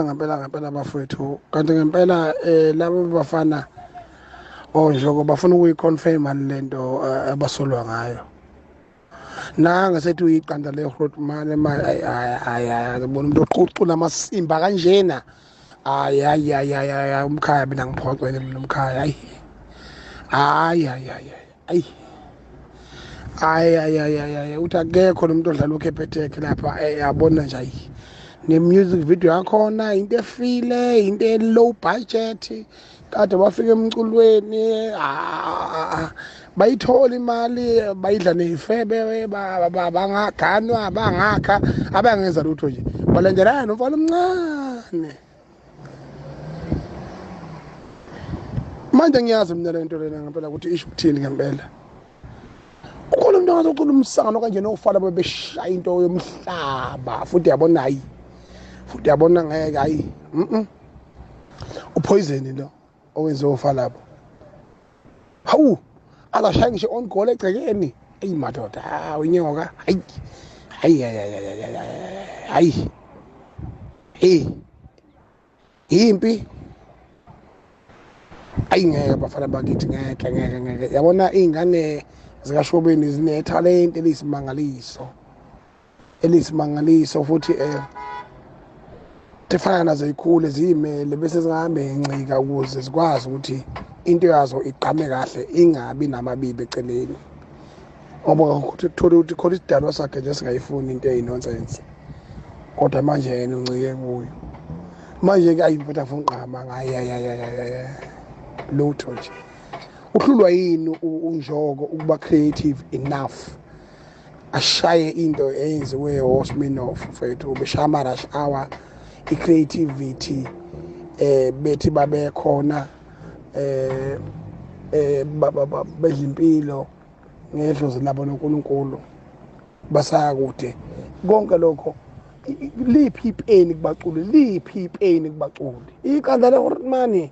ngempela ngempela bafowethu kanti ngempela eh labo bafana onjoko oh, bafuna ukuyiconfirma lento eh, abasolwa ngayo nanga sethi uyiqanda le road mane manje ayi ayi ayi bona umuntu oqhucula amasimba kanjena ayi ayi ayi ayi umkhaya mina ngiphoxele mina umkhaya ayi ayi ayi ayi ayi hayi hayi hayi hayi uthi akekho lo muntu odlala ukhepheteke lapha eh, yabona nje ayi ne-music video yakhona into efile into e-low budget kade bafika emculweni bayithola imali bayidla neyifebe bangaganwa bangakha abangenza lutho nje balandelana nomfana omncane manje ngiyazi mina lento lena ngempela ukuthi isho ukuthini ngempela ukhona umuntu angazokhula umsangano kanjena ofana bebeshaya into yomhlaba futhi yabona hayi futhi yabona ngeke hayi uphoyizeni lo owenze ufa lapho hawu akashayi ngisho on goal egcekeni eyi madoda hawu inyoka hayi hayi hayi hayi yimpi ayi ngeke bafana bakithi ngeke ngeke ngeke yabona iy'ngane zikashobeni zinethalente eliyisimangaliso eliyisimangaliso futhi um tifana nazo yikhule ziyimele bese zingahambe ngencika ukuze zikwazi ukuthi into yazo igqame kahle ingabi namabibi eceleni ngoba thole ukuthi khona isidalwa sakhe nje singayifuni into eyinonsense kodwa manje yena uncike kuyo manje-ke ayi mfethu afuna ugqama ngayayayayaya lutho nje uhlulwa yini unjoko ukuba creative enough ashaye into eyenziwe osminof mfethu ubeshaya ama-rush hour i-creativity eh bethi babekhona eh eh bedla impilo ngedlozi labo noNkulunkulu basaya kude konke lokho liphi ipeni kubaculi liphi ipeni kubaculi iqanda lehormani